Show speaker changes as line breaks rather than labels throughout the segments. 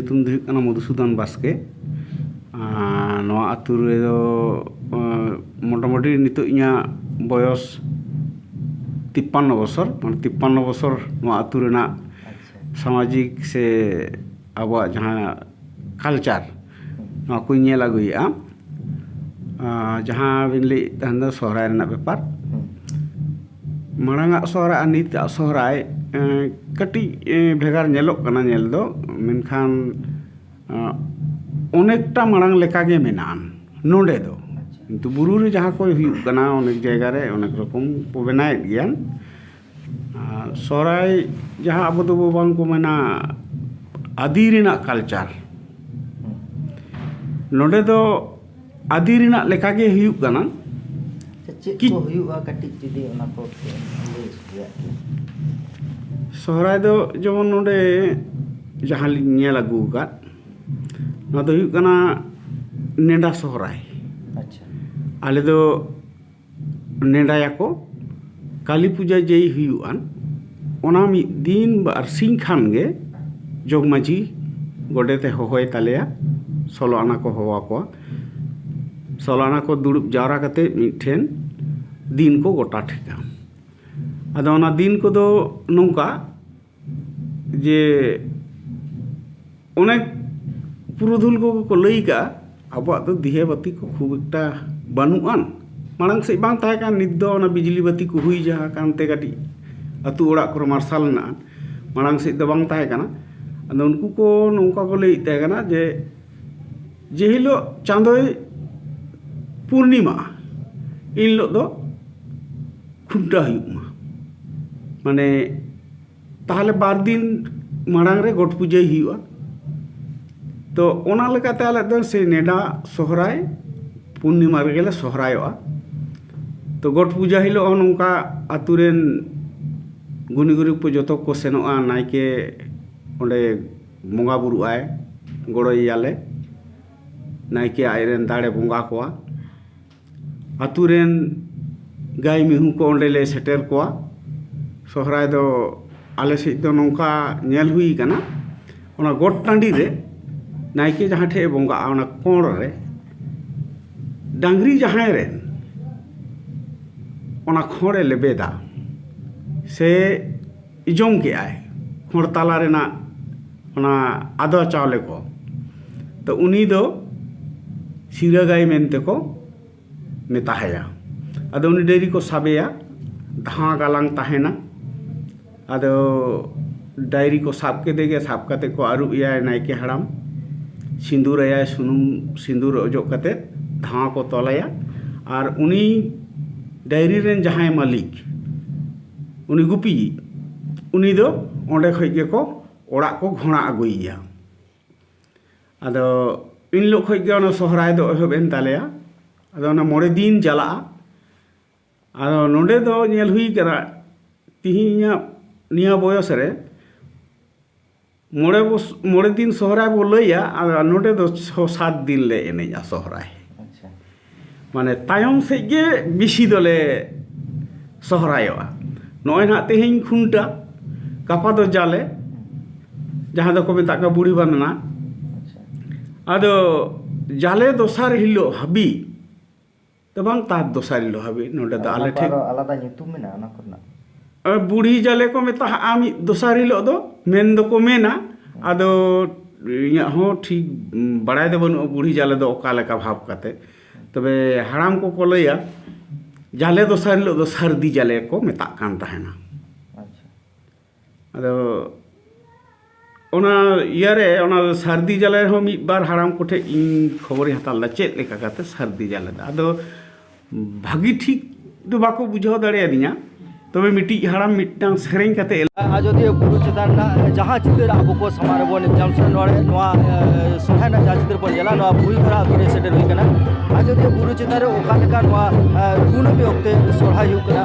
ᱧᱩᱛᱩᱢ ᱫᱚ ᱦᱩᱭᱩᱜ ᱠᱟᱱᱟ ᱢᱚᱫᱷᱩᱥᱩᱫᱚᱱ ᱵᱟᱥᱠᱮ ᱱᱚᱣᱟ ᱟᱹᱛᱩ ᱨᱮᱫᱚ ᱢᱚᱴᱟᱢᱩᱴᱤ ᱱᱤᱛᱚᱜ ᱤᱧᱟᱹᱜ ᱵᱚᱭᱚᱥ ᱛᱤᱯᱯᱟᱱᱱᱚ ᱵᱚᱪᱷᱚᱨ ᱢᱟᱱᱮ ᱛᱤᱯᱯᱟᱱᱱᱚ ᱵᱚᱪᱷᱚᱨ ᱱᱚᱣᱟ ᱟᱹᱛᱩ ᱨᱮᱱᱟᱜ ᱥᱟᱢᱟᱡᱤᱠ ᱥᱮ ᱟᱵᱚᱣᱟᱜ ᱡᱟᱦᱟᱸ ᱠᱟᱞᱪᱟᱨ ᱱᱚᱣᱟ ᱠᱚᱧ ᱧᱮᱞ ᱟᱹᱜᱩᱭᱮᱫᱼᱟ ᱡᱟᱦᱟᱸ ᱵᱤᱱ ᱞᱟᱹᱭᱮᱫ ᱛᱟᱦᱮᱱ ᱫᱚ ᱥᱚᱦᱨᱟᱭ ᱨᱮᱱᱟᱜ ᱵᱮᱯᱟᱨ ᱢᱟᱲᱟᱝ ᱟᱜ ᱥᱚᱦᱨᱟᱭ ᱟᱨ ᱱᱤᱛ ᱟᱜ ᱥᱚᱦᱨᱟᱭ ᱠᱟᱹᱴᱤᱡ ᱵᱷᱮᱜᱟᱨ ᱧᱮᱞᱚᱜ ᱠᱟᱱᱟ ᱧᱮᱞ ᱫᱚ ᱢᱮᱱᱠᱷᱟᱱ ᱚᱱᱮᱠᱴᱟ ᱢᱟᱲᱟᱝ ᱞᱮᱠᱟᱜᱮ ᱢᱮᱱᱟᱜᱼᱟ ᱱᱚᱰᱮ ᱫᱚ ᱠᱤᱱᱛᱩ ᱵᱩᱨᱩ ᱨᱮ ᱡᱟᱦᱟᱸ ᱠᱚ ᱦᱩᱭᱩᱜ ᱠᱟᱱᱟ ᱚᱱᱮᱠ ᱡᱟᱭᱜᱟ ᱨᱮ ᱚᱱᱮᱠ ᱨᱚᱠᱚᱢ ᱠᱚ ᱵᱮᱱᱟᱣᱮᱫ ᱜᱮᱭᱟ ᱟᱨ ᱥᱚᱦᱨᱟᱭ ᱡᱟᱦᱟᱸ ᱟᱵᱚ ᱫᱚ ᱵᱟᱝ ᱠᱚ ᱢᱮᱱᱟ ᱟᱹᱫᱤ ᱨᱮᱱᱟᱜ ᱠᱟᱞᱪᱟᱨ ᱱᱚᱰᱮ ᱫᱚ ᱟᱹᱫᱤ ᱨᱮᱱᱟᱜ ᱞᱮᱠᱟ ᱜᱮ ᱦᱩᱭᱩᱜ ᱠᱟᱱᱟ ᱪᱮᱫ
ᱠᱚ ᱦᱩᱭᱩᱜᱼᱟ ᱠᱟᱹᱴᱤᱡ ᱡᱩᱫᱤ ᱚᱱᱟ ᱠᱚ ᱞᱟᱹᱭ
ᱥᱚᱫᱚᱨ ᱥᱚᱦᱨᱟᱭ ᱫᱚ ᱡᱮᱢᱚᱱ ᱱᱚᱰᱮ ᱡᱟᱦᱟᱸ ᱞᱤᱧ ᱧᱮᱞ ᱟᱹᱜᱩ ᱟᱠᱟᱫ ᱱᱚᱣᱟ ᱫᱚ ᱦᱩᱭᱩᱜ ᱠᱟᱱᱟ ᱱᱮᱰᱟ ᱥᱚᱦᱨᱟᱭ ᱟᱪᱪᱷᱟ
ᱟᱞᱮ ᱫᱚ
ᱱᱮᱰᱟᱭᱟᱠᱚ ᱠᱟᱹᱞᱤ ᱯᱩᱡᱟᱹ ᱡᱮᱭ ᱦᱩᱭᱩᱜ ᱟᱱ ᱚᱱᱟ ᱢᱤᱫ ᱫᱤᱱ ᱵᱟᱨ ᱥᱤᱧ ᱠᱷᱟᱱ ᱜᱮ ᱡᱚᱜᱽ ᱢᱟᱹᱡᱷᱤ ᱜᱚᱰᱮᱛᱮ ᱦᱚᱦᱚᱭ ᱛᱟᱞᱮᱭᱟ ᱥᱳᱞᱳ ᱟᱱᱟ ᱠᱚ ᱦᱚᱦᱚ ᱟᱠᱚᱣᱟ ᱥᱳᱞᱳ ᱟᱱᱟ ᱠᱚ ᱫᱩᱲᱩᱵ ᱡᱟᱣᱨᱟ ᱠᱟᱛᱮ ᱢᱤᱫ ᱴᱷᱮᱱ ᱫᱤᱱ ᱠᱚ ᱜᱚᱴᱟ ᱴᱷᱤᱠᱼᱟ ᱟᱫᱚ ᱚᱱᱟ ᱫᱤᱱ ᱠᱚᱫᱚ ᱱᱚᱝᱠᱟ ᱡᱮ ᱚᱱᱮᱠ ᱯᱩᱨᱩᱫᱷᱩᱞ ᱠᱚᱜᱮ ᱠᱚ ᱞᱟᱹᱭ ᱠᱟᱜᱼᱟ ᱟᱵᱚᱣᱟᱜ ᱫᱚ ᱫᱤᱭᱮ ᱵᱟᱹᱛᱤ ᱠᱚ ᱠᱷᱩᱵ ᱮᱠᱴᱟ ᱵᱟᱹᱱᱩᱜ ᱟᱱ ᱢᱟᱲᱟᱝ ᱥᱮᱫ ᱵᱟᱝ ᱛᱟᱦᱮᱸ ᱠᱟᱱ ᱱᱤᱛ ᱫᱚ ᱚᱱᱟ ᱵᱤᱡᱽᱞᱤ ᱵᱟᱹᱛᱤ ᱠᱚ ᱦᱩᱭ ᱡᱟᱦᱟᱸ ᱠᱟᱱᱛᱮ ᱠᱟᱹᱴᱤᱡ ᱟᱛᱳ ᱚᱲᱟᱜ ᱠᱚᱨᱮᱜ ᱢᱟᱨᱥᱟᱞ ᱢᱮᱱᱟᱜᱼᱟ ᱢᱟᱲᱟᱝ ᱥᱮᱫ ᱫᱚ ᱵᱟᱝ ᱛᱟᱦᱮᱸ ᱠᱟᱱᱟ ᱟᱫᱚ ᱩᱱᱠᱩ ᱠᱚ ᱱᱚᱝᱠᱟ ᱠᱚ ᱞᱟᱹᱭᱮᱜ ᱛᱟᱦᱮᱸ ᱠᱟᱱᱟ ᱡᱮ ᱡᱮ ᱦᱤᱞᱳᱜ ᱪᱟᱸᱫᱳᱭ ᱯᱩᱨᱱᱤᱢᱟᱜᱼᱟ ᱮᱱ ᱦᱤᱞᱳᱜ ᱫᱚ ᱠᱷᱩᱱᱴᱟᱹᱣ ᱦᱩᱭᱩᱜ ᱢᱟ ᱢᱟᱱᱮ ᱛᱟᱦᱚᱞᱮ ᱵᱟᱨ ᱫᱤᱱ ᱢᱟᱲᱟᱝ ᱨᱮ ᱜᱚᱴ ᱯᱩᱡᱟᱹᱭ ᱦᱩᱭᱩᱜᱼᱟ ᱛᱚ ᱚᱱᱟ ᱞᱮᱠᱟᱛᱮ ᱟᱞᱮ ᱫᱚ ᱥᱮᱭ ᱱᱮᱰᱟ ᱥᱚᱦᱨᱟᱭ ᱯᱩᱨᱱᱤᱢᱟ ᱨᱮᱜᱮ ᱞᱮ ᱥᱚᱦᱨᱟᱭᱚᱜᱼᱟ ᱛᱚ ᱜᱚᱴ ᱯᱩᱡᱟᱹ ᱦᱤᱞᱳᱜ ᱦᱚᱸ ᱱᱚᱝᱠᱟ ᱟᱹᱛᱩ ᱨᱮᱱ ᱜᱩᱱᱤ ᱜᱩᱨᱤᱵᱽ ᱠᱚ ᱡᱚᱛᱚ ᱠᱚ ᱥᱮᱱᱚᱜᱼᱟ ᱱᱟᱭᱠᱮ ᱚᱸᱰᱮ ᱵᱚᱸᱜᱟ ᱵᱩᱨᱩᱜ ᱟᱭ ᱜᱚᱲᱚᱭᱮᱭᱟᱞᱮ ᱱᱟᱭᱠᱮ ᱟᱡ ᱨᱮᱱ ᱫᱟᱲᱮ ᱵᱚᱸᱜᱟ ᱠᱚᱣᱟ ᱟᱛᱳ ᱨᱮᱱ ᱜᱟᱹᱭ ᱢᱤᱦᱩ ᱠᱚ ᱚᱸᱰᱮ ᱞᱮ ᱥᱮᱴᱮᱨ ᱠᱚᱣᱟ ᱥᱚᱦᱨᱟᱭ ᱫᱚ ᱟᱞᱮ ᱥᱮᱫ ᱫᱚ ᱱᱚᱝᱠᱟ ᱧᱮᱞ ᱦᱩᱭ ᱠᱟᱱᱟ ᱚᱱᱟ ᱜᱚᱴ ᱴᱟᱺᱰᱤ ᱨᱮ ᱱᱟᱭᱠᱮ ᱡᱟᱦᱟᱸ ᱴᱷᱮᱱ ᱮ ᱵᱚᱸᱜᱟᱜᱼᱟ ᱚᱱᱟ ᱠᱚᱬ ᱨᱮ ᱰᱟᱝᱨᱤ ᱡᱟᱦᱟᱸᱭ ᱨᱮᱱ ᱚᱱᱟ ᱠᱷᱚᱲᱮ ᱞᱮᱵᱮᱫᱟ ᱥᱮ ᱡᱚᱢ ᱠᱮᱫᱟᱭ ᱦᱚᱲ ᱛᱟᱞᱟ ᱨᱮᱱᱟᱜ ᱚᱱᱟ ᱟᱫᱽᱣᱟ ᱪᱟᱣᱞᱮ ᱠᱚ ᱛᱚ ᱩᱱᱤ ᱫᱚ ᱥᱤᱨᱟᱹ ᱜᱟᱹᱭ ᱢᱮᱱᱛᱮ ᱠᱚ ᱢᱮᱛᱟ ᱟᱭᱟ ᱟᱫᱚ ᱩᱱᱤ ᱰᱟᱹᱝᱨᱤ ᱠᱚ ᱥᱟᱵᱮᱭᱟ ᱫᱷᱟᱶᱟ ᱜᱟᱞᱟᱝ ᱛᱟᱦᱮᱱᱟ ᱟᱫᱚ ᱰᱟᱹᱝᱨᱤ ᱠᱚ ᱥᱟᱵ ᱠᱮᱫᱮ ᱜᱮ ᱥᱟᱵ ᱠᱟᱛᱮᱫ ᱠᱚ ᱟᱹᱨᱩᱵ ᱮᱭᱟ ᱱᱟᱭᱠᱮ ᱦᱟᱲᱟᱢ ᱥᱤᱸᱫᱩᱨ ᱟᱭᱟᱭ ᱥᱩᱱᱩᱢ ᱥᱤᱸᱫᱩᱨ ᱚᱡᱚᱜ ᱠᱟᱛᱮᱫ ᱫᱷᱟᱶᱟ ᱠᱚ ᱛᱚᱞ ᱟᱭᱟ ᱟᱨ ᱩᱱᱤ ᱰᱟᱹᱝᱨᱤ ᱨᱮᱱ ᱡᱟᱦᱟᱸᱭ ᱢᱟᱹᱞᱤᱠ ᱩᱱᱤ ᱜᱩᱯᱤᱭᱤᱡ ᱩᱱᱤ ᱫᱚ ᱚᱸᱰᱮ ᱠᱷᱚᱱ ᱜᱮᱠᱚ ᱚᱲᱟᱜ ᱠᱚ ᱜᱷᱚᱬᱟ ᱟᱹᱜᱩᱭᱮᱭᱟ ᱟᱫᱚ ᱮᱱ ᱦᱤᱞᱳᱜ ᱠᱷᱚᱱ ᱜᱮ ᱚᱱᱟ ᱥᱚᱦᱨᱟᱭ ᱫᱚ ᱮᱦᱚᱵ ᱮᱱ ᱛᱟᱞᱮᱭᱟ ᱟᱫᱚ ᱚᱱᱟ ᱢᱚᱬᱮ ᱫᱤᱱ ᱪᱟᱞᱟᱜᱼᱟ ᱟᱫᱚ ᱱᱚᱰᱮ ᱫᱚ ᱧᱮᱞ ᱦᱩᱭ ᱠᱟᱱᱟ ᱛᱮᱦᱮᱧᱟᱜ ᱱᱤᱭᱟᱹ ᱵᱚᱭᱚᱥ ᱨᱮ ᱢᱚᱬᱮ ᱢᱚᱬᱮ ᱫᱤᱱ ᱥᱚᱦᱨᱟᱭ ᱵᱚᱱ ᱞᱟᱹᱭᱟ ᱟᱨ ᱱᱚᱰᱮ ᱫᱚ ᱪᱷᱚ ᱥᱟᱛ ᱫᱤᱱ ᱞᱮ ᱮᱱᱮᱡᱼᱟ ᱥᱚᱦᱨᱟᱭ
ᱢᱟᱱᱮ
ᱛᱟᱭᱚᱢ ᱥᱮᱫ ᱜᱮ ᱵᱮᱥᱤ ᱫᱚᱞᱮ ᱥᱚᱦᱨᱟᱭᱚᱜᱼᱟ ᱱᱚᱜᱼᱚᱭ ᱦᱟᱸᱜ ᱛᱮᱦᱤᱧ ᱠᱷᱩᱱᱴᱟᱹᱣ ᱜᱟᱯᱟ ᱫᱚ ᱡᱟᱞᱮ ᱡᱟᱦᱟᱸ ᱫᱚᱠᱚ ᱢᱮᱛᱟᱜ ᱠᱟᱱᱟ ᱵᱩᱲᱦᱤ ᱵᱟᱸᱫᱽᱱᱟ ᱟᱫᱚ ᱡᱟᱞᱮ ᱫᱚᱥᱟᱨ ᱦᱤᱞᱳᱜ ᱦᱟᱹᱵᱤᱡ ᱫᱚ ᱵᱟᱝ ᱛᱟᱨ ᱫᱚᱥᱟᱨ ᱦᱤᱞᱳᱜ ᱦᱟᱹᱵᱤᱡ ᱱᱚᱰᱮ ᱫᱚ ᱟᱞᱮ ᱴᱷᱮᱱ ᱟᱞᱟᱫᱟ ᱧᱩᱛᱩᱢ ᱢᱮᱱᱟᱜᱼᱟ
ᱚᱱᱟ ᱠᱚᱨᱮᱱᱟᱜ
ᱵᱩᱲᱦᱤ ᱡᱟᱞᱮ ᱠᱚ ᱢᱮᱛᱟᱜᱼᱟ ᱢᱤᱫ ᱫᱚᱥᱟᱨ ᱦᱤᱞᱳᱜ ᱫᱚ ᱢᱮᱱ ᱫᱚᱠᱚ ᱢᱮᱱᱟ ᱟᱫᱚ ᱤᱧᱟᱹᱜ ᱦᱚᱸ ᱴᱷᱤᱠ ᱵᱟᱲᱟᱭ ᱫᱚ ᱵᱟᱹᱱᱩᱜᱼᱟ ᱵᱩᱲᱦᱤ ᱡᱟᱞᱮ ᱫᱚ ᱚᱠᱟ ᱞᱮᱠᱟ ᱵᱷᱟᱵᱽ ᱠᱟᱛᱮ ᱛᱚᱵᱮ ᱦᱟᱲᱟᱢ ᱠᱚᱠᱚ ᱞᱟᱹᱭᱟ ᱡᱟᱞᱮ ᱫᱚᱥᱟᱨ ᱦᱤᱞᱳᱜ ᱫᱚ ᱥᱟᱹᱨᱫᱤ ᱡᱟᱞᱮ ᱠᱚ ᱢᱮᱛᱟᱜ ᱠᱟᱱ ᱛᱟᱦᱮᱱᱟ ᱟᱫᱚ ᱚᱱᱟ ᱤᱭᱟᱹ ᱨᱮ ᱚᱱᱟ ᱥᱟᱹᱨᱫᱤ ᱡᱟᱞᱮ ᱨᱮᱦᱚᱸ ᱢᱤᱫ ᱵᱟᱨ ᱦᱟᱲᱟᱢ ᱠᱚᱴᱷᱮᱱ ᱤᱧ ᱠᱷᱚᱵᱚᱨᱤᱧ ᱦᱟᱛᱟᱣ ᱞᱮᱫᱟ ᱪᱮᱫ ᱞᱮᱠᱟ ᱠᱟᱛᱮᱫ ᱥᱟᱹᱨᱫᱤ ᱡᱟᱞᱮ ᱫᱚ ᱟᱫᱚ ᱵᱷᱟᱹᱜᱤ ᱴᱷᱤᱠ ᱫᱚ ᱵᱟᱠᱚ ᱵᱩᱡᱷᱟᱹᱣ ᱫᱟᱲᱮᱭᱟᱫᱤᱧᱟ ᱛᱚᱵᱮ ᱢᱤᱫᱴᱤᱡ ᱦᱟᱲᱟᱢ ᱢᱤᱫᱴᱟᱝ ᱥᱮᱨᱮᱧ ᱠᱟᱛᱮᱫ ᱟᱡᱚᱫᱤᱭᱟᱹ ᱵᱩᱨᱩ
ᱪᱮᱛᱟᱱ ᱨᱮᱱᱟᱜ ᱡᱟᱦᱟᱸ ᱪᱤᱛᱟᱹᱨ ᱟᱵᱚ ᱠᱚ ᱥᱟᱢᱟᱝ ᱨᱮᱵᱚᱱ ᱧᱟᱢ ᱥᱮ ᱱᱚᱣᱟ ᱱᱚᱣᱟ ᱥᱚᱨᱦᱟᱭ ᱨᱮᱱᱟᱜ ᱡᱟᱦᱟᱸ ᱪᱤᱛᱟᱹᱨ ᱵᱚᱱ ᱧᱮᱞᱟ ᱱᱚᱣᱟ ᱵᱷᱩᱞ ᱫᱷᱟᱨᱟ ᱟᱛᱳ ᱨᱮ ᱥᱮᱴᱮᱨ ᱦᱩᱭ ᱠᱟᱱᱟ ᱟᱡᱚᱫᱤᱭᱟᱹ ᱵᱩᱨᱩ ᱪᱮᱛᱟᱱ ᱨᱮ ᱚᱠᱟ ᱞᱮᱠᱟ ᱱᱚᱣᱟ ᱠᱩᱱᱟᱹᱢᱤ ᱚᱠᱛᱮ ᱥᱚᱨᱦᱟᱭ ᱦᱩᱭᱩᱜ ᱠᱟᱱᱟ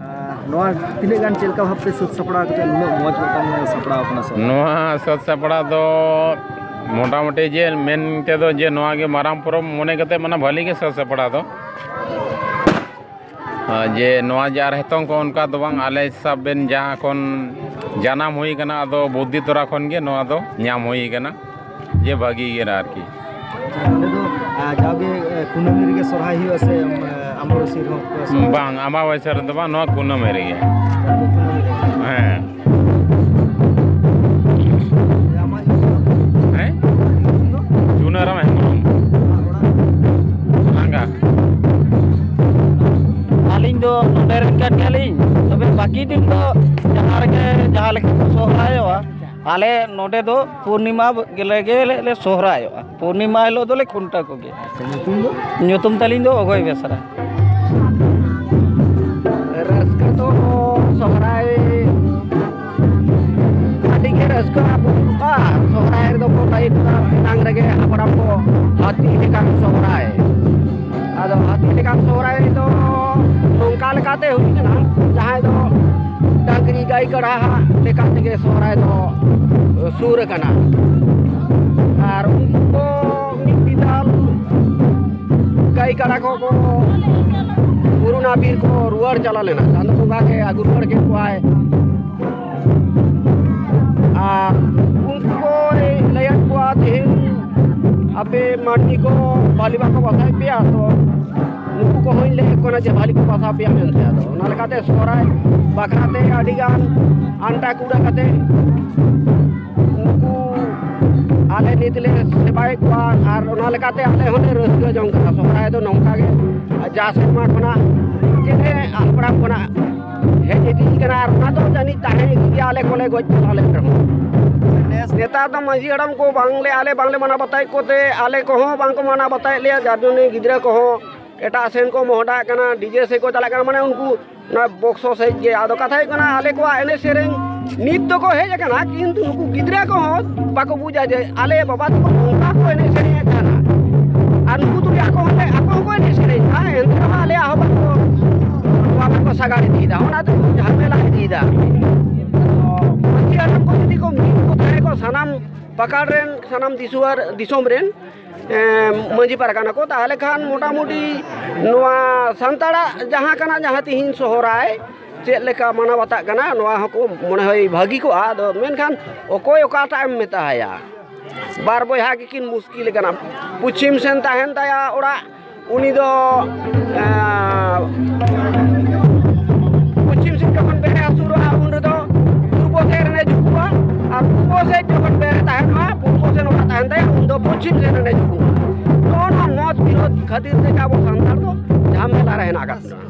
ᱱᱚᱣᱟ ᱛᱤᱱᱟᱹᱜ ᱜᱟᱱ ᱪᱮᱫ ᱞᱮᱠᱟ ᱵᱷᱟᱵᱛᱮ ᱥᱟᱹᱛ ᱥᱟᱯᱲᱟᱣ
ᱠᱟᱛᱮ ᱱᱩᱱᱟᱹᱜ ᱢᱚᱡᱽ ᱢᱤᱫᱴᱟᱝ ᱥᱟᱯᱲᱟᱣ ᱠᱟᱱᱟ ᱥᱮ ᱱᱚᱣᱟ ᱥᱟᱹᱛ ᱥᱟᱯᱲᱟᱣ ᱫᱚ ᱢᱚᱴᱟᱢᱩᱴᱤ ᱡᱮ ᱢᱮᱱ ᱛᱮᱫᱚ ᱡᱮ ᱱᱚᱣᱟ ᱜᱮ ᱢᱟᱨᱟᱝ ᱯᱚᱨᱚᱵᱽ ᱢᱚᱱᱮ ᱠᱟᱛᱮ ᱢᱟᱱᱮ ᱵᱷᱟᱹᱞᱤ ᱜᱮ ᱥᱟᱹᱛ ᱥᱟᱯᱲᱟᱣ ᱫᱚ ᱡᱮ ᱱᱚᱣᱟ ᱡᱮ ᱟᱨ ᱱᱤᱛᱚᱝ ᱠᱚ ᱚᱱᱠᱟ ᱫᱚ ᱵᱟᱝ ᱟᱞᱮ ᱥᱟᱵ ᱵᱮᱱ ᱡᱟᱦᱟᱸ ᱠᱷᱚᱱ ᱡᱟᱱᱟᱢ ᱦᱩᱭ ᱠᱟᱱᱟ ᱟᱫᱚ ᱵᱩᱫᱽᱫᱷᱤ ᱛᱚᱨᱟ ᱠᱷᱚᱱ ᱜᱮ ᱱᱚᱣᱟ ᱫᱚ ᱧᱟᱢ ᱦᱩᱭ ᱠᱟᱱᱟ ᱡᱮ ᱵᱷᱟᱹᱜᱤ ᱜᱮ ᱟᱨᱠᱤ
ᱱᱚᱰᱮ
ᱫᱚ ᱡᱟᱣᱜᱮ ᱠᱩᱱᱟᱹᱢᱤ ᱨᱮᱜᱮ ᱥᱚᱨᱦᱟᱭ ᱦᱩᱭᱩᱜᱼᱟ ᱥᱮ
ᱟᱢᱵᱟᱵᱟᱹᱥᱤ ᱨᱮᱦᱚᱸ ᱵᱟᱝ ᱟᱢᱵᱟᱵᱟᱹᱥᱤ ᱨᱮᱫᱚ ᱵᱟᱝ ᱱᱚᱣᱟ ᱠᱩᱱᱟᱹᱢᱤ ᱨᱮᱜᱮ ᱦᱮᱸ ᱵᱟᱹᱠᱤ ᱫᱤᱱ ᱫᱚ ᱡᱟᱦᱟᱸ ᱨᱮᱜᱮ ᱡᱟᱦᱟᱸ ᱞᱮᱠᱟ ᱠᱚ ᱥᱚᱦᱨᱟᱭᱚᱜᱼᱟ ᱟᱞᱮ ᱱᱚᱰᱮ ᱫᱚ ᱯᱩᱨᱱᱤᱢᱟ ᱜᱮᱞᱮ ᱜᱮᱞᱮ ᱥᱚᱦᱨᱟᱭᱚᱜᱼᱟ ᱯᱩᱨᱱᱤᱢᱟ ᱦᱤᱞᱳᱜ ᱫᱚᱞᱮ ᱠᱷᱩᱱᱴᱟᱹᱣ ᱠᱚᱜᱮᱭᱟ ᱧᱩᱛᱩᱢ ᱛᱟᱹᱞᱤᱧ ᱫᱚ ᱚᱜᱚᱭ ᱵᱮᱥᱨᱟ ᱨᱟᱹᱥᱠᱟᱹ
ᱫᱚ ᱥᱚᱦᱨᱟᱭ ᱟᱹᱰᱤ ᱜᱮ ᱨᱟᱹᱥᱠᱟᱹ ᱵᱩᱡᱷᱟᱹᱜᱼᱟ ᱥᱚᱦᱨᱟᱭ ᱨᱮᱫᱚ ᱠᱚ ᱞᱟᱹᱭ ᱠᱟᱫᱟ ᱮᱱᱟᱝ ᱨᱮᱜᱮ ᱦᱟᱯᱲᱟᱢ ᱠᱚ ᱦᱟᱹᱛᱤ ᱞᱮᱠᱟᱱ ᱥᱚᱦᱨᱟᱭ ᱟᱫᱚ ᱦᱟᱹᱛᱤ ᱞᱮᱠᱟᱱ ᱥᱚᱦᱨᱟᱭ ᱫᱚ ᱱᱚᱝᱠᱟ ᱞᱮᱠᱟᱛᱮ ᱦᱩᱭᱩᱜ ᱠᱟᱱᱟ ᱡᱟᱦᱟᱸᱭ ᱫᱚ ᱰᱟᱹᱝᱨᱤ ᱜᱟᱹᱭ ᱠᱟᱰᱟ ᱞᱮᱠᱟ ᱛᱮᱜᱮ ᱥᱚᱦᱨᱟᱭ ᱫᱚ ᱥᱩᱨ ᱟᱠᱟᱱᱟ ᱟᱨ ᱩᱱᱠᱩ ᱠᱚ ᱢᱤᱫ ᱵᱤᱫᱟᱞ ᱜᱟᱹᱭ ᱠᱟᱰᱟ ᱠᱚᱠᱚ ᱠᱳᱨᱳᱱᱟ ᱵᱤᱨ ᱠᱚ ᱨᱩᱣᱟᱹᱲ ᱪᱟᱞᱟᱣ ᱞᱮᱱᱟ ᱪᱟᱸᱫᱚ ᱵᱚᱸᱜᱟ ᱜᱮ ᱟᱹᱜᱩ ᱨᱩᱣᱟᱹᱲ ᱠᱮᱫ ᱠᱚᱣᱟᱭ ᱟᱨ ᱩᱱᱠᱩ ᱠᱚ ᱞᱟᱹᱭᱟᱫ ᱠᱚᱣᱟ ᱛᱮᱦᱮᱧ ᱟᱯᱮ ᱢᱟᱹᱱᱢᱤ ᱠᱚ ᱵᱷᱟᱹᱞᱤ ᱵᱟᱠᱚ ᱵᱟᱥᱟᱭᱮᱫ ᱯᱮᱭᱟ ᱛᱚ ᱱᱩᱠᱩ ᱠᱚᱦᱚᱸᱧ ᱞᱟᱹᱭ ᱟᱠᱚ ᱠᱟᱱᱟ ᱡᱮ ᱵᱷᱟᱹᱞᱤ ᱠᱚ ᱵᱟᱥᱟ ᱯᱮᱭᱟ ᱢᱮᱱᱛᱮ ᱟᱫᱚ ᱚᱱᱟ ᱞᱮᱠᱟᱛᱮ ᱥᱚᱦᱨᱟᱭ ᱵᱟᱠᱷᱨᱟᱛᱮ ᱟᱹᱰᱤᱜᱟᱱ ᱟᱱᱴᱟ ᱠᱩᱲᱟ ᱠᱟᱛᱮ ᱩᱱᱠᱩ ᱟᱞᱮ ᱱᱤᱛ ᱞᱮ ᱥᱮᱵᱟᱭᱮᱫ ᱠᱚᱣᱟ ᱟᱨ ᱚᱱᱟ ᱞᱮᱠᱟᱛᱮ ᱟᱞᱮ ᱦᱚᱸᱞᱮ ᱨᱟᱹᱥᱠᱟᱹ ᱡᱚᱝ ᱠᱟᱱᱟ ᱥᱚᱦᱨᱟᱭ ᱫᱚ ᱱᱚᱝᱠᱟ ᱜᱮ ᱡᱟ ᱥᱮᱨᱢᱟ ᱠᱷᱚᱱᱟᱜ ᱡᱮ ᱦᱟᱯᱲᱟᱢ ᱠᱷᱚᱱᱟᱜ ᱦᱮᱡ ᱤᱫᱤᱜ ᱠᱟᱱᱟ ᱟᱨ ᱚᱱᱟ ᱫᱚ ᱡᱟᱹᱱᱤᱡ ᱛᱟᱦᱮᱸ ᱤᱫᱤ ᱜᱮᱭᱟ ᱟᱞᱮ ᱠᱚᱞᱮ ᱜᱚᱡ ᱪᱟᱞᱟᱣ ᱞᱮᱱ ᱨᱮᱦᱚᱸ ᱱᱮᱥ ᱱᱮᱛᱟᱨ ᱫᱚ ᱢᱟᱺᱡᱷᱤ ᱦᱟᱲᱟᱢ ᱠᱚ ᱵᱟᱝᱞᱮ ᱟᱞᱮ ᱵᱟᱝᱞᱮ ᱢᱟᱱᱟᱣ ᱵᱟᱛᱟᱣᱮᱫ ᱠᱚᱛᱮ ᱟᱞᱮ ᱠᱚᱦᱚᱸ ᱵᱟᱝᱠᱚ ᱢᱟᱱᱟᱣ ᱵᱟᱛᱟᱣᱮᱫ ᱞᱮᱭᱟ ᱡᱟᱨ ᱡᱚᱱᱱᱮ ᱜᱤᱫᱽᱨᱟᱹ ᱠᱚᱦᱚᱸ ᱮᱴᱟᱜ ᱥᱮᱱ ᱠᱚ ᱢᱚᱦᱰᱟᱜ ᱠᱟᱱᱟ ᱰᱤᱡᱮ ᱥᱮᱫ ᱠᱚ ᱪᱟᱞᱟᱜ ᱠᱟᱱᱟ ᱢᱟᱱᱮ ᱩᱱᱠᱩ ᱚᱱᱟ ᱵᱚᱠᱥᱚ ᱥᱮᱫ ᱜᱮ ᱟᱫᱚ ᱠᱟᱛᱷᱟ ᱦᱩᱭᱩᱜ ᱠᱟᱱᱟ ᱟᱞᱮ ᱠᱚᱣᱟᱜ ᱮᱱᱮᱡ ᱥᱮᱨᱮᱧ ᱱᱤᱛ ᱫᱚᱠᱚ ᱦᱮᱡ ᱟᱠᱟᱱᱟ ᱠᱤᱱᱛᱩ ᱱᱩᱠᱩ ᱜᱤᱫᱽᱨᱟᱹ ᱠᱚᱦᱚᱸ ᱵᱟᱠᱚ ᱵᱩᱡᱟ ᱡᱮ ᱟᱞᱮ ᱵᱟᱵᱟ ᱛᱟᱠᱚ ᱱᱚᱝᱠᱟ ᱠᱚ ᱮᱱᱮᱡ ᱥᱮᱨᱮᱧᱮᱫ ᱛᱟᱦᱮᱱᱟ ᱟᱨ ᱱᱩᱠᱩ ᱫᱚ ᱟᱠᱚ ᱦᱚᱸ ᱟᱠᱚ ᱦᱚᱸᱠᱚ ᱮᱱᱮᱡ ᱥᱮᱨᱮᱧ ᱛᱟᱦᱮᱸ ᱮᱱᱛᱮ ᱨᱮᱦᱚᱸ ᱟᱞᱮᱭᱟᱜ ᱦᱚᱸ ᱵᱟᱠᱚ ᱱᱚᱣᱟ ᱵᱟᱠᱚ ᱥᱟᱜᱟᱲ ᱤᱫᱤᱭᱮᱫᱟ ᱚᱱᱟ ᱫᱚ ᱡᱷᱟᱢᱮᱞᱟ ᱤᱫᱤᱭᱮᱫᱟ ᱢᱟᱹᱡᱷᱤ ᱦᱟᱲᱟᱢ ᱠᱚ ᱡᱩᱫᱤ ᱠᱚ ᱢᱤᱫ ᱠᱚ ᱛᱟᱦᱮᱸ ᱠᱚ ᱥᱟᱱᱟᱢ ᱯᱟᱠᱟᱲ ᱨᱮᱱ ᱥᱟᱱᱟᱢ ᱫᱤᱥᱩᱣᱟᱨ ᱫᱤᱥᱚᱢ ᱨᱮᱱ ᱢᱟᱹᱡᱷᱤ ᱯᱟᱨᱜᱟᱱᱟ ᱠᱚ ᱛᱟᱦᱚᱞᱮ ᱠᱷᱟᱱ ᱢᱚᱴᱟᱢᱩᱴᱤ ᱱᱚᱣᱟ ᱥᱟᱱᱛᱟᱲᱟᱜ ᱡᱟᱦᱟᱸ ᱠᱟᱱᱟ ᱡᱟᱦᱟᱸ ᱛᱤᱦᱤᱧ ᱥᱚᱦᱨᱟᱭ ᱪᱮᱫ ᱞᱮᱠᱟ ᱢᱟᱱᱟᱣ ᱵᱟᱛᱟᱜ ᱠᱟᱱᱟ ᱱᱚᱣᱟ ᱦᱚᱸᱠᱚ ᱢᱚᱱᱮ ᱦᱚᱭ ᱵᱷᱟᱹᱜᱤ ᱠᱚᱜᱼᱟ ᱟᱫᱚ ᱢᱮᱱᱠᱷᱟᱱ ᱚᱠᱚᱭ ᱚᱠᱟᱴᱟᱜ ᱮᱢ ᱢᱮᱛᱟ ᱟᱭᱟ ᱵᱟᱨ ᱵᱚᱭᱦᱟ ᱜᱮᱠᱤᱱ ᱢᱩᱥᱠᱤᱞ ᱠᱟᱱᱟ ᱯᱚᱪᱷᱤᱢ ᱥᱮᱱ ᱛᱟᱦᱮᱱ ᱛᱟᱭᱟ ᱚᱲᱟᱜ ᱩᱱᱤ ᱫᱚ ᱯᱚᱪᱷᱤᱢ ᱥᱮᱫ ᱡᱚᱠᱷᱚᱱ ᱵᱮᱨᱮ ᱟᱹᱪᱩᱨᱚᱜᱼᱟ ᱩᱱ ᱨᱮᱫᱚ ᱯᱩᱨᱵᱚ ᱥᱮᱫ ᱨᱮᱱᱮ ᱡᱩᱠᱩᱜᱼᱟ ᱟᱨ ᱯᱩᱨᱵᱚ ᱥᱮᱫ ᱡᱚᱠᱷᱚᱱ ᱵᱮᱨᱮ ᱛᱟᱦᱮᱱ ᱢᱟ ᱯᱩᱨᱵᱚ ᱥᱮᱫ ᱚᱲᱟᱜ ᱛᱟᱦᱮᱱ ᱛᱟᱭᱟ ᱩᱱ ᱫᱚ ᱯᱚᱪᱷᱤᱢ ᱥᱮᱫ ᱨᱮᱱᱮ ᱡᱩᱠᱩᱜᱼᱟ ᱱᱚᱜᱼᱚ ᱱᱚᱣᱟ ᱢᱚᱛ ᱵᱤᱨᱳᱫᱷ ᱠᱷᱟᱹᱛᱤᱨ ᱛᱮᱜᱮ ᱟᱵᱚ ᱥᱟᱱᱛᱟᱲ ᱫᱚ ᱡᱷᱟᱢᱮᱞᱟ ᱨᱮ ᱦᱮᱱᱟᱜ ᱟᱠᱟᱫ ᱵᱚᱱᱟ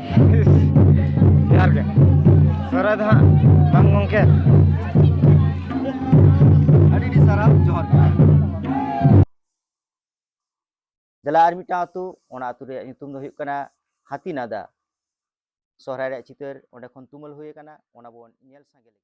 ᱡᱚᱦᱟᱨ ᱜᱮ ᱥᱚᱦᱨᱟᱭ ᱫᱚ ᱦᱟᱸᱜ ᱵᱟᱝ ᱜᱚᱢᱠᱮ
ᱟᱹᱰᱤ ᱟᱹᱰᱤ ᱥᱟᱨᱦᱟᱣ ᱡᱚᱦᱟᱨ ᱜᱮ ᱫᱮᱞᱟ ᱟᱨ ᱢᱤᱫᱴᱟᱝ ᱟᱹᱛᱩ ᱚᱱᱟ ᱟᱹᱛᱩ ᱨᱮᱭᱟᱜ ᱧᱩᱛᱩᱢ ᱫᱚ ᱦᱩᱭᱩᱜ ᱠᱟᱱᱟ ᱦᱟᱹᱛᱤᱱᱟᱫᱟ ᱥᱚᱦᱨᱟᱭ ᱨᱮᱭᱟᱜ ᱪᱤᱛᱟᱹᱨ ᱚᱸᱰᱮ ᱠᱷᱚᱱ ᱛᱩᱢᱟᱹᱞ ᱦᱩᱭ ᱟᱠᱟᱱᱟ ᱚᱱᱟ ᱵᱚᱱ ᱧᱮᱞ ᱥᱟᱸᱜᱮ ᱞᱮᱜᱮ